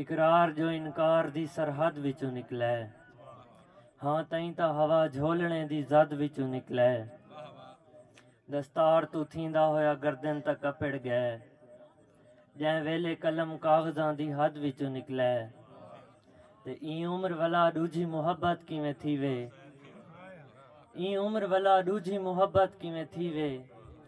اقرار جو انکار دی سرحد وچوں نکلے۔ ہاں تئیں تاں ہوا جھولݨے دی زد وچوں نکلے۔ دستار توں تھیندا ہویا گردن تاں کپڑ ڳئے۔ جئیں ویلھے قلم کاغذاں دی حد وچوں نکلے۔ تے ایں عمر ولا ݙوجھی محبت کیویں تھیوے۔ ایں عمر ولا ݙوجھی محبت کیویں تھیوے۔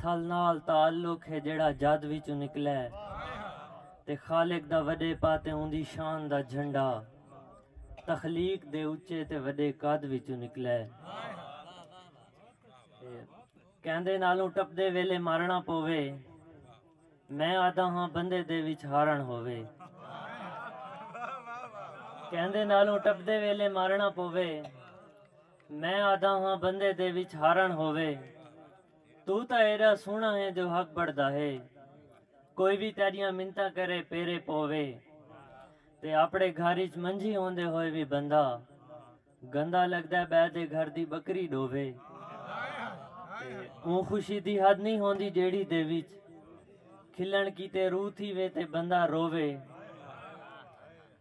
تھل نال تعلق ہے جیہڑا جد وچوں نکلے تے خالق دا وݙے پاتے اوندی شان دا جھنڈا تخلیق دے اچے تے وݙے قد وچوں نکلے کیندے نالوں ٹپدے ویلے مارݨا پووے میں آہدا ہاں بندے دے وچ ہارݨ ہووے کیندے نالوں ٹپدے ویلے مارݨا پووے۔ میں آہدا ہاں بندے دے وچ ہارݨ ہووے۔ توں تاں ایݙا سوہݨا ہیں جو حق بݨدا ہے۔ کوئی وی تیݙیاں منتاں کرے پیرے پووے۔ تے آپݨے گھر اچ منجھی ہوندے ہوئے وی بندہ گندا لڳدے ٻئے دے گھر دی ٻکری ݙووے۔ تے اوں خوشی دی حد نئیں ہوندی جیڑھی دے وچ کھلݨ کیتے روح تھیوے تے بندہ رووے۔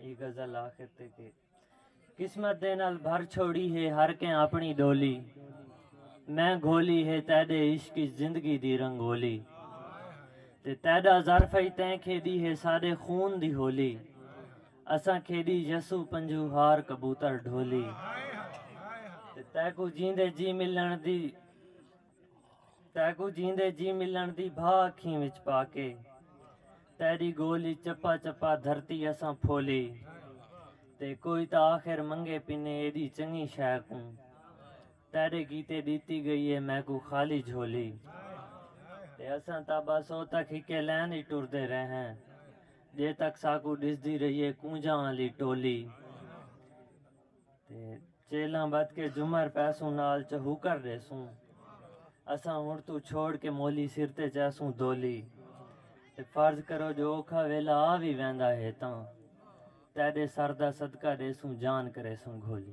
اے غزل آخر تے کہ قسمت دے نال بھر چھوڑی ہے ہر کہیں اپنی ڈولی میں گھولی ہے تیڈے عشق زندگی دی رنگولی تے تیڈا ظرف ہی تیں کھیڈی ہے ساڈے خون دی ہولی اساں کھیڈی یسو پنجو ہار کبوتر ڈھولی تے تیکو جیندے جی ملن دی تیکوں جیندے جی ملݨ دی بھا اکھیں وچ پا کے تیݙی گولی چپا چپا دھرتی اساں پھولی تے کوئی تاں آخر منگے پنے ایݙی چنڳی شے کوں تیݙے کیتے ݙتی ڳئی اے میکوں خالی جھولی تے اساں تاں بس او تک ہکے لین اچ ٹردے رہے ہیں جے تک ساکوں ݙسدی رہیے کونجاں آلی ٹولی۔ تے چیلاں بدھ کے جمر پیسوں نال چہوکر ڈیسوں اساں ہنڑ توں چھوڑ کے مولی سر تے چیسوں دولی تے فرض کرو جو اوکھا ویلا آ وی ویندا ہے تاں تیڈے سر دا صدقہ ڈیسوں جان کریسوں گھولی۔